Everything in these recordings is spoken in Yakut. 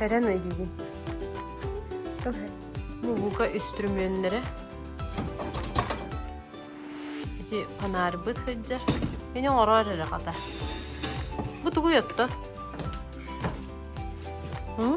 Эрэн өйдүүгүн. Тыл мууһука үстүрүмүөннэрэ. Ити фонарбыт сылдьар. Мини оҥороор эрэ хата. Бу тугуй отто? М?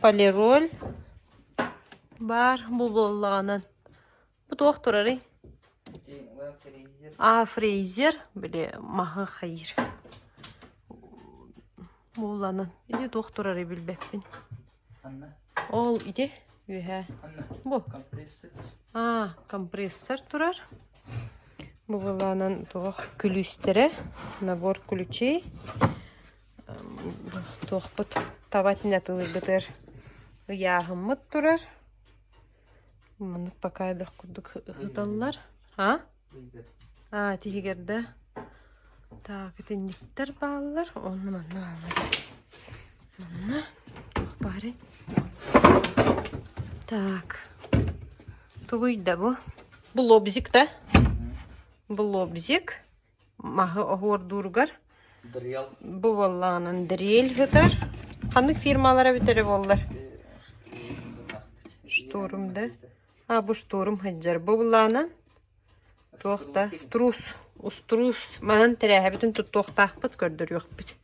Полироль баар бу буоллаҕынан бу туох турарый а фрейзер били маһы хайыыр буоллаҕынан ити туох турарый билбэппин ол ити үөһээ бу а компрессор турар бу буоллаҕынан туох күлүүстэрэ набор ключей туохпут таба итини атылыйбыт эр ыйааһыммыт турар маннык пока элбэх курдук ыталлар а а тиһигэр да так итинниктэр бааллар онно манна бааллар манна туох баарай так тугуй да бу блобзик да блобзик маһы оһуордууругар буваллаанан дрель сытар ханнык фирмалара эбитэ эрэ буоллар штурм да а бу штурм сылдьар буваллаанан туох да струс уструус манан тэрээһэбитин туттуохтаахпыт көрдөрүөхпүт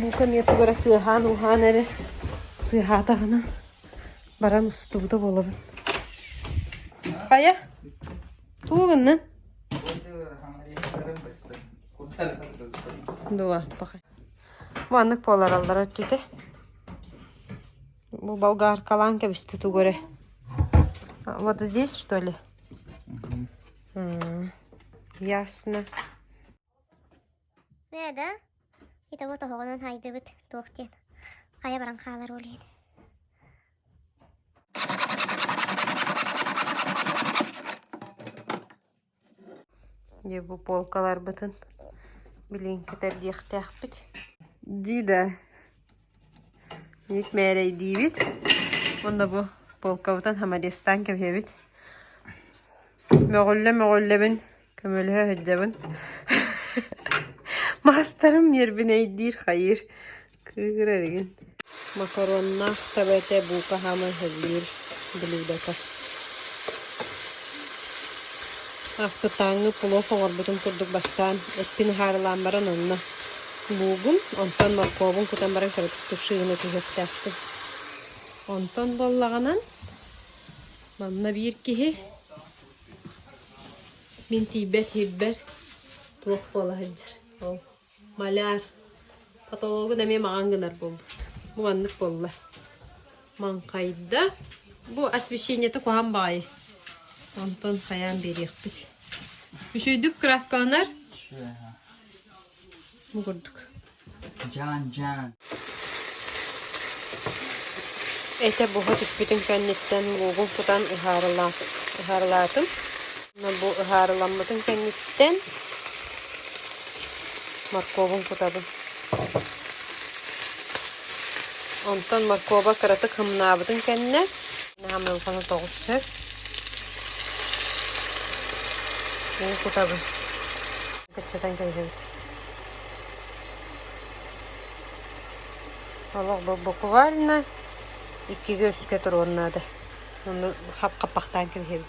Бука эмиэ тугара тыаһаан-ууһаан эрэр тыаһаатаҕына баран устубута буолабын. Хайа? Тугу гыннын? Дуо, пахай. Маннык буолараллара өттүтэ бу болгаркалаан кэбистэ тугу эрэ вот здесь что ли ясно ээ да итого тоһоҕунан һайдыбыт туох диэн хайа баран хаалар уолуйан дии бу полкаларбытын билигин кэтэрдиэхтээхпит дии да миик мээрэйдиибит уонна бу полкабытын хамариастаан кэбиһэбит мөҕүллэ мөҕүллэбин көмөлөһө сылдьабын маастарым ньиэрбинэйдиир хайыыр Кыыгыр эригин макароннаах таба этэ, бука хаама иһэллиир блюдата. Аспытааҥҥы пулов оҥорбутум курдук бастаан эппин аһаарылаан баран онно луугум, онтон моркуобун кутан баран кыратык тушсуйуна түһүөхтээхпин. Онтон буоллаҕынан манна биир киһи мин тиийбэт иһирбэр туох буола сылдьар ол Маляр. Патологын эмиэ маҕан гынар буоллун. Муҥаннык буолла. Маҥхайда. Бу освещениеты куһан баҕайы. Онтон хайаан биэриэхпит. Үчөйдүк краскаланар. Мугурдук. Жан-жан. Этэ буһа түспүтүн кэнниттэн луугум кутан ыһаарыла- ыһаарылаатым. Бу ыһаарыламмытын кэнниттэн моркуобун кутабын. Онтон моркуоба кыратык хымнаабытын кэннэ наамыылканы тоҕус сөп кутабын. Кыччатан кэбиһэбит Олох буквально иккигэ үскэ туруон наада. Ону хапхаппахтаан кэбиһэбин.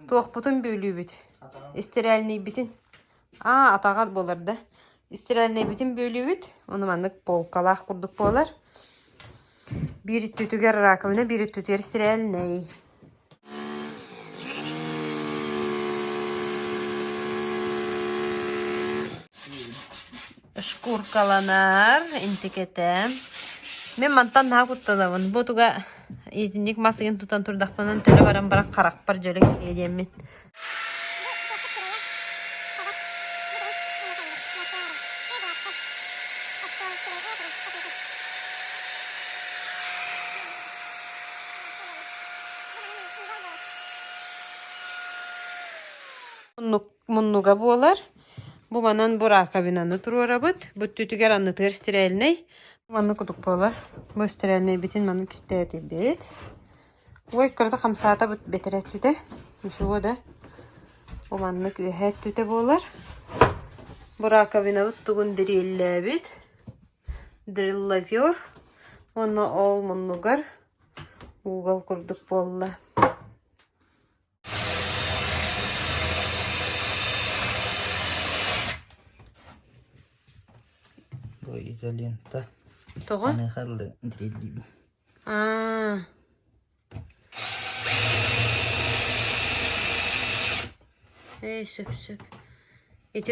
Туохпутун бүөлүүбүт? Истирээлнийбитин? Аа, атаҕа буолар да. Истирээлнийбитин бүөлүүбүт. Ону маннык полкалаах курдук буолар. Биир өттүтүгэр раковина, биир өттүтүгэр истирээлнэй. Шкуркаланар, интикэтэн. Мин мантан наһаа куттанабын. Бу туга итинник мас ыйын тутан турдахпынан төлө баран баран харахпар дьөлө киириэ диэммин. Оннук муннуга буолар. Буманан бураакабинаны туруорабыт. Бу өттүтүгэр аннытыгар стерильнэй. Маннык кутук буолар. Бу стерильнэйбитин маннык кистээтибит. Ой, кырата хамсаата бэтэрэ өттүтэ. Усуо да. Бу маннык үөһэ өттүтэ буолар. Бураакабинабыт тугун дириллээбит. Дриллофер. Уонна ол муннугар угол курдук буолла. изолента Тоҕо? Поехали дедим. Аа. Эй, сөп-сөп. Эти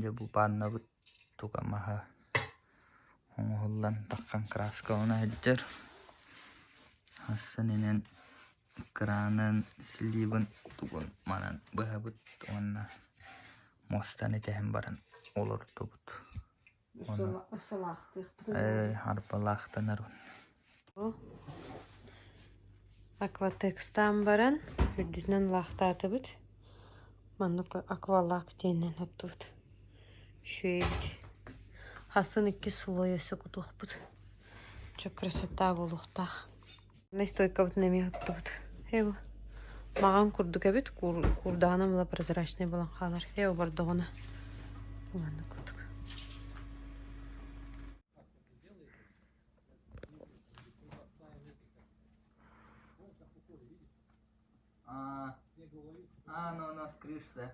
Дьэ бу пааннабыт туга маһа оҥоһуллан таххан крааскалана сылдьар. Астан инэн кыраанан сливын тугун манан быһабыт уонна мустан итэһэн баран олордубут. Арбалаахтанарым акватекстаан баран үрдүнэн лаахтаатыбыт маннык аквалаах диэнинэн оттубут үчүгэйбит хасын иккис слой өссө кутуохпут чок красота буолуохтаах Настойкабытын эмиэ туттубут эбу маҕан курдук эбит куур куурдаҕынан ыла прозрачнай буолан хаалар ээ обордоҕуна маннык курдук а а оно у нас крыша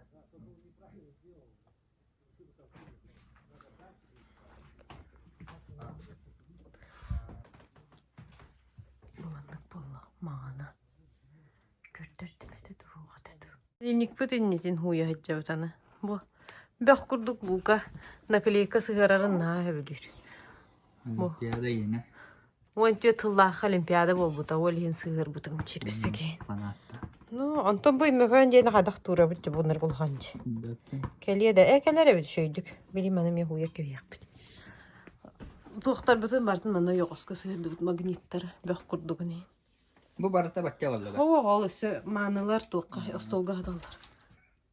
Маннык буолла маҕана көрдөрдүбэтэ дуу хата дуу Холодильникпыт иннитин ууйа сылдьабыт аны бу бөх курдук луука наклейка сыһыарарын наһаа сөбүлүүр Уон түөрт сыллаахха олимпиада буолбута, ол иһин сыһыарбытым чирипсигин. Ну, онтон бу Иммөкөөн диэни хайдах туурабыт дьэ булунар булхан дьэ. Кэлиэ да, э кэлэр эбит сөйдүк. Билим аны мен хуя кэбиэхпит. Туохтарбытын бартын аны йоҕоско сыһыардыбыт магниттар бөх курдугуни. Бу барыта бачча оллуга. Оо, ол өссө маанылар туохха остолга хаталлар.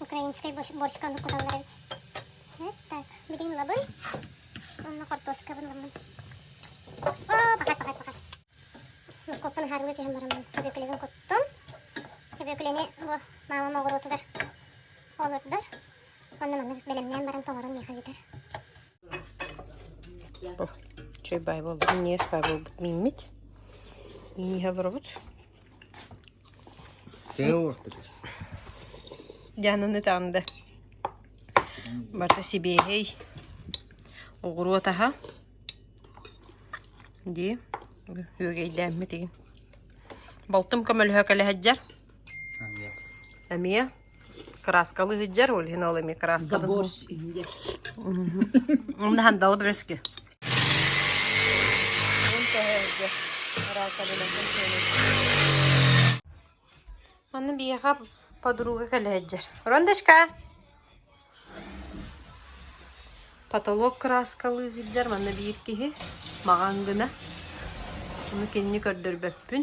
украинскай борщиканы куталлар эбит так билигин лабый онно картошкабын ламмын о пока пока пока мускулканы харыла түһэн бараммын көбүөкүлүгүн куттум көбүөкүлэни бу маамам оҕуруотугар олордор онно маннык бэлэмнээн баран толорон миэхэ бүтэр чай бай болбут минньиэс бай болбут мииммит ииһэ олоробут Дьаананы таанда барыта сибиэһэй оҕуруот аһа дии үөгэйдээммит игин балтым көмөлөһө кэлэһэджар эмиэ Краскалы сылдьар, ол иһин ол эми краскатын Умна хандалы брэски. Манна биһиэхэ подруга кэлэһэджэр. Рондашка! Потолок краскалы сылдьар манна биир киһи маҕан гына. Ону кинини көрдөрбөппүн.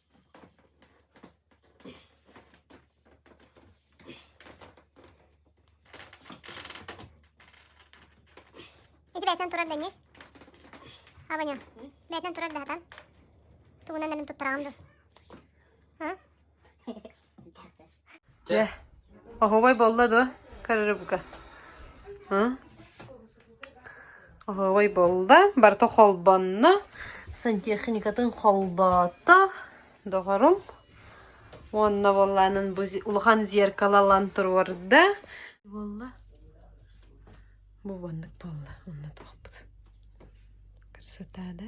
Ити бэйэтинэн турар да ини. Аваню, бэйэтинэн турар да хатан. Тугунан нанын туттараҕым дуу? Дьэ, оһуобай буолла дуо? Карырыбыка. Оһуобай буолла. Барта холбонно. Сантехникатын холбоото. Доҕорум. Уонна буоллаанын бу улахан зеркалалан туруорда. Буолла. Бу уоннук буолла. Онно туохпут. Красота, да?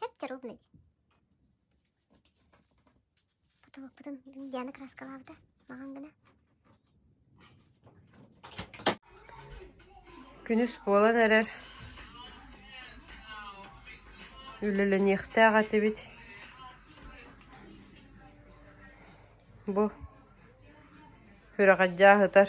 Эптер убна дии. Ботубуппутун Диана краскалаабыта маҕан гына. Күнүс буолан эрэр. Үлэлэниэхтээх этибит. Бу үрэҕэр дьааһытар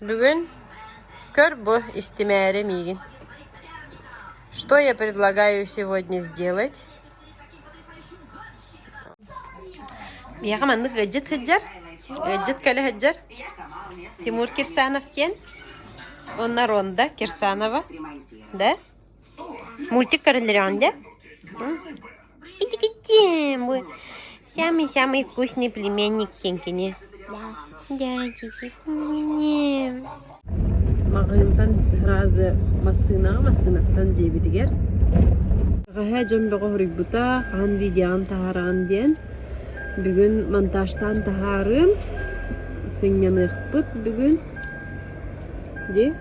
Бүгүн көр бу истимээри миигин что я предлагаю сегодня сделать миэхэ маннык ыалдьыт сылдьар ыалдьыт кэлэ сылдьар Тимур Кирсанов диэн уонна Ронда Кирсанова да мультик королеве бу самый самый вкусный племенник киҥкини маҕаһыынтан разы массыынаҕа массыынаттан дьиэбитигэр бэҕэһээ дьон бөҕөһүрүйбута хаһан видеоҕын таһаараҕын диэн бүгүн монтажтаан таһаарыым сынньаныахпыт бүгүн Дии?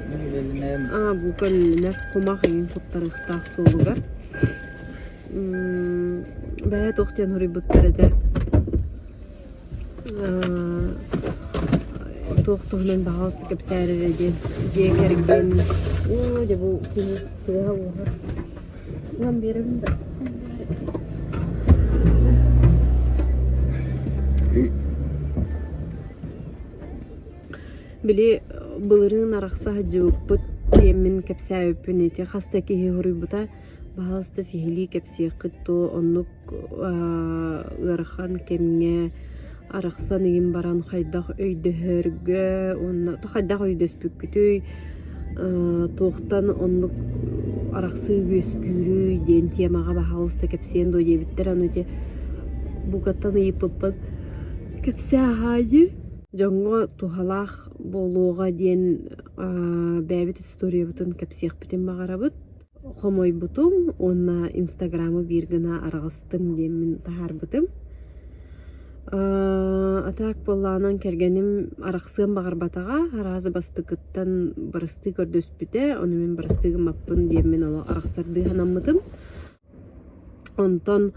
Ньүлүлүнэр. Аа, бука өлүлүнэр. Кумах эҥин куттарыахтаах суолугар. Бэйэ туох диэн хоруйбуттар этэ. Туох туһунан баҕаластык кэпсээр эрэ диэн дьиэ кэргэн оо дьэ бу күнү тыаһа ууһар. Улам биэрэбин да. Били былырыын арахса сылдьыбыппыт диэммин кэпсээбиппин ити хас да киһи суруйбута баһаалыста сиһилии кэпсиэххит дуо оннук ыарахан кэмҥэ арахсан игин баран хайдах өйдөһөргө уонна хайдах өйдөспүккүтүй туохтан оннук арахсыы үөскүүрүй диэн тиэмэҕэ баһаалыста кэпсиэн дуо диэбиттэр аны ити букаттан ыйыппыппыт Кэпсээ аһаайыы дьоҥҥо туһалаах буолуоҕа диэн бэйэбит историябытын кэпсиэхпитин баҕарабыт. Хомойбутум уонна инстаграмы биир гына араҕыстым диэммин таһаарбытым. А так буоллаҕынан кэргэним арахсыан баҕарбатаҕа, араазы бастакыттан барыстыы көрдөспүтэ, ону мин барыстыы гыммаппын диэммин олох арахсардыы санаммытым. Онтон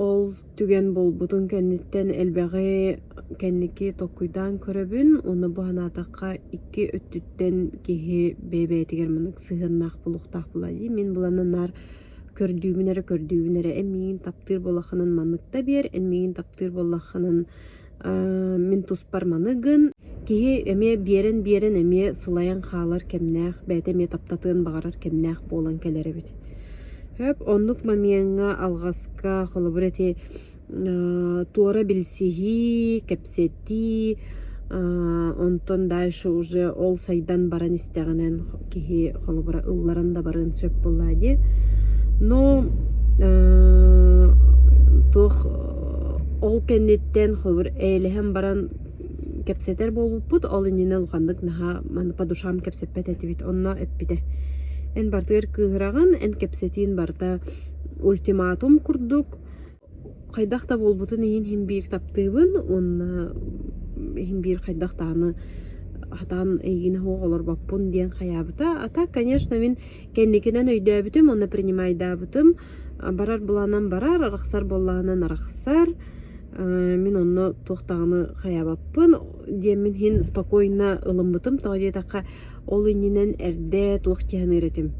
ол түгэн буолбутун кэнниттэн элбэҕи кэнники толкуйдаан көрөбүн. Ону бу санаатахха икки өттүттэн киһи бэйэ-бэйэтигэр маннык сыһыаннаах буолуохтаах буолуо дии. Мин былаана наар көрдүүбүн эрэ көрдүүбүн эрэ. Эн миигин таптыыр буоллаххынан маннык да биэр, эн миигин таптыыр буоллаххынан мин туспар маныгын киһи эмиэ биэрэн биэрэн эмиэ сылайан хаалар кэмнээх бэйэтэ эмиэ таптатыан баҕарар кэмнээх буолан кэлэр эбит сөп оннук момеҥҥа алҕаска холобур ити туора билсиһии кэпсэтии онтон дальше уже ол сайдан баран истэҕинэн киһи холобура ылларан да барыан сөп буоллаа дии. Но туох ол кэнниттэн холобур эйэлэһэн баран кэпсэтэр буолбуппут, ол иннинэ улаханнык наһаа маны по душам кэпсэппэт этибит, онно эппитэ. Эн барытыгар кыыһыраҕын, эн кэпсэтиин барыта ультиматум курдук Хайдах да буолбутун иһин иһин биир таптыыбын уонна иһин биир хайдах даҕаны сатаан эйигини суох олорбоппун диэн хайаабыта. А так, конечно, мин кэнникинэн өйдөөбүтүм уонна принимайдаабытым. Барар былаанам барар, арахсар буоллаҕынан арахсар. Мин онно туох даҕаны хайаабаппын диэммин иһин спокойно ылыммытым. Тоҕо диэтэххэ, ол иннинэн эрдэ туох дьиһэниир этим.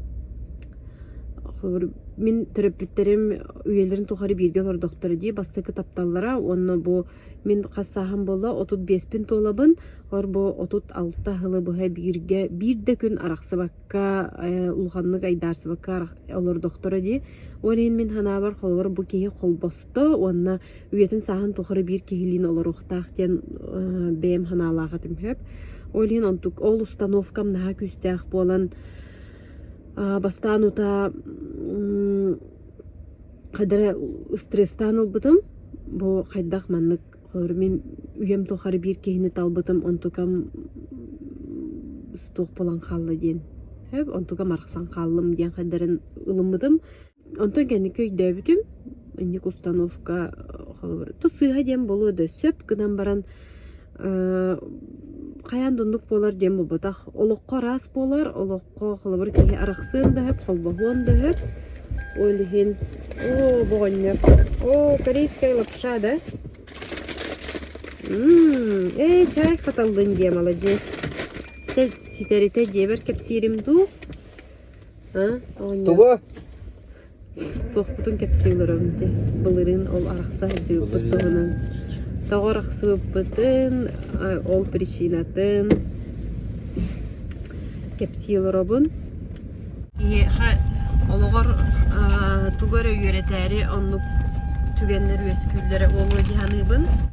Холобур, мин төрөппүттэрим үйэлэрин тухары бииргэ олордохторо дии бастакы тапталлара уонна бу мин хас сааһым буолла отут биэспин туолабын. Олор бу отут алта сылы быһа бииргэ биир да күн арахсыбакка э улаханнык айдаарсыбакка олордохторо дии. Ол иһин мин санаабар холобур бу киһи холбосто уонна үйэтин сааһын тухары биир киһилиин олоруохтаах диэн э бэйэм санаалаах этим сөп. Ол иһин онтук ол установкам наһаа күүстээх буолан Бастаан утаа хайдах эрэ стресстаан ылбытым, бу хайдах маннык холобура мин үйэм тухары биир киһини талбытым онтукам туох буолан хаалла диэн, онтукам арахсан хааллым диэн хайдах эрэ ылыммытым. Онтон кэнники өйдөөбүтүм, инник установка холобур, то сыыһа диэн буолуо да сөп гынан баран хайаан да оннук буолар диэн буолбатах. Олоххо араас буолар, олоххо холобур киһи арахсыан да сөп, холбоһуон да сөп. Ол иһин оо боҕонньор, оо корейская лапша да? Ээ чай хаталлын диэм аладьыыс. Сэ ситэритэ дьиэбэр кэпсиирим дуу Тугу? Туохпутун кэпсии олоробун ити. Былырыын ол арахса сылдьыбыппыт туһунан. Тоҕо арахсыбыппытын, ол причинатын кэпсии олоробун. Киһиэхэ олоҕор тугу эрэ үөрэтээри оннук түгэннэр үөскүүллэрэ буолуо дии саныыбын.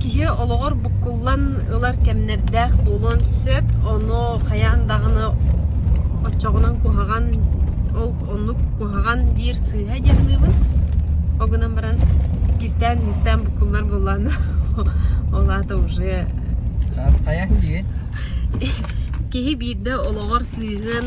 Киһи олоҕор буккуллан ылар кэмнэрдээх буолуон сөп. Ону хайаан даҕаны оччоҕунан куһаҕан, ол оннук куһаҕан диир сыыһа диэн аныыбын. Ол гынан баран иккистээн-үһүстээн буккуллар буоллаҕына ол аата уже Ха- хайаан дии киһи биирдэ олоҕор сыыһыан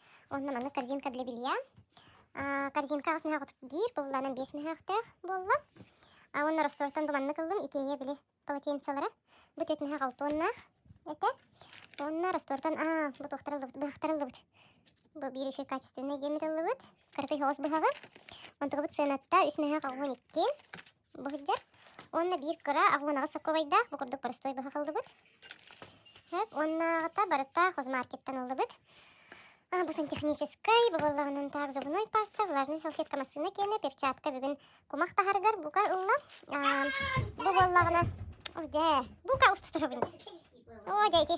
Онно манна корзинка для белья. Корзинка аҕыс мөһөөх биир, бобуллаанан биэс мөһөөхтөөх буолла. Уонна ростолтан бы маннык ыллым, икея били полотенцелара. Бу төрт мөһөөх алтуоннаах этэ. Уонна ростолтан аа, бу туохтар ыллыбыт, быһахтар ыллыбыт. Бу биир үчүгэй качественный геммит ыллыбыт. Кыракый соҕус быһаҕы. Онтугабыт сыаната үс мөһөөх алгон икки. Былдьа уонна биир кыра агунаҕа соковайдаах бу курдук простой быһа халлыбыт. Хэп уоннааҕыта барыта хозмаркеттан ыллыбыт. А, бу сантехническай, бу боллаҕынан таах зубной паста, влажная салфетка массыына киэнэ, перчатка бүгүн кумах таһаргар бука ылла. Бу боллаҕына О, дьэ, бука устатырабын. О, дьэ ити.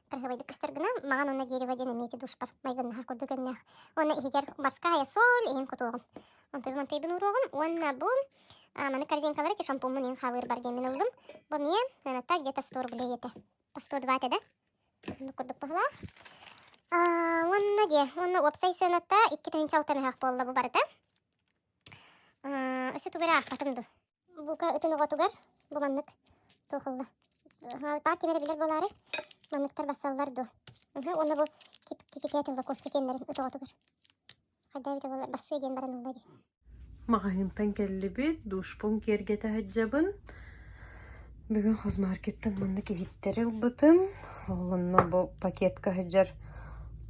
хайыабайдык көстөр гына маҕан уонна дерево диэн эмиэ ити дуушпар майгыннаһар курдук өҥнөөх. Уонна иһигэр морская соль иһин кутуоҕум. Онтуйбантайбын уруоҕум уонна бу маны корзинкалары ити шампуммун иһин хаалыыр бар диэммин ыллым. Бу эмиэ ыаната где-то 100 рублей этэ. По 102 этэ да. Оннук курдук быһылаах. Уонна дьэ, уонна уопсай сыаната 2,6 мөһөх буолла бу барыта. Өссө тугу эрэ аахпатым дуо? Булка үтүн оҕотугар бу маннык туохалла баар ким эрэ билэр буолаары манныктар бассаллар дуо уонна бу китикээтин лакоска киэннэрин ыт оҕотугар хайдаа эбитэ буолар бассыа диэн баран ылла дии маҕаһыынтан кэллибит дуушпун киэргэтэ сылдьабын бүгүн хозмаркеттан маннык иһиттэри ылбытым ол онно бу пакетка сылдьар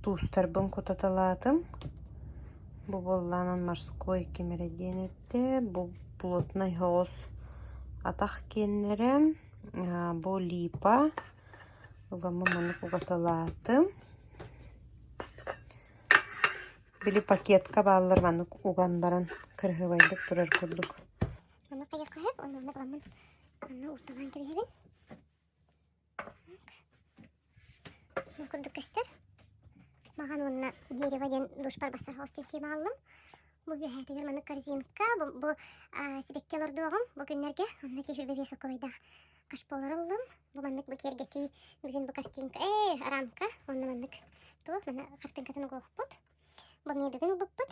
туустарбын кутаталаатым Бу буоллаҕынан морской ким эрэ диэн эттэ. Бу плотнай соҕус атах киэннэрэ. Бу липа. Уламмын маннык угатылаатым. Били пакетка бааллар маннык уган баран кыраһыабайдык турар курдук. Ама хайа хаһык, онно уламмын манна ортолоон кэбиһэбин. курдук көстөр. Махан уонна дерево диэн дуушпар бассар хостин тиим ааллым. Бу үөһээтигэр маннык корзинка, бу сибэкки олордуоҕум бу күннэргэ. Онно тиһирбэ весоковайдаах кашполар ыллым. Бу маннык бу киэргэтии бүгүн бу картинка, ээ, рамка. Онно маннык туох, манна картинкатын угуохпут. Бу мне бүгүн ылбыппыт.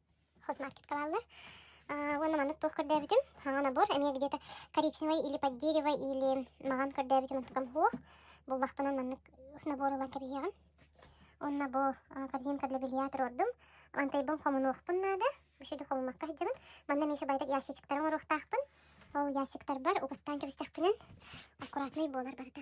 хозмаркет хаалаллар уонна маннык туох көрдөөбүтүм саҥа набор эмиэ где-то коричневай или под дерево или маҕан көрдөөбүтүм онтукам суох буллахпынан маннык набор ылан кэбиһиэҕим онно бу корзинка для белья туруордум антайбын хомунуохпун наада үчүгү хомумакка сылдьабын манна миша байтак ящичиктары оҥоруохтаахпын ол ящиктарбар угаттаан кэбистэхпинэ аккуратнай буолар барыта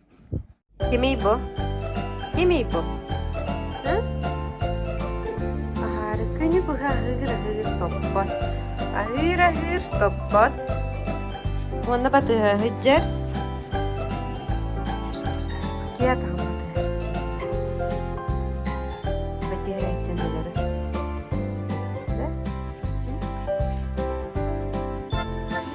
Кимий бу? Кимий бу? Һы? Аһаары күнү быһа аһыыр-аһыыр топпот. Аһыыр-аһыыр топпот. Уонна батыһа ыһыддьар. Киа таһым батыһар. Батиһэйтэн өлөрөр. Да?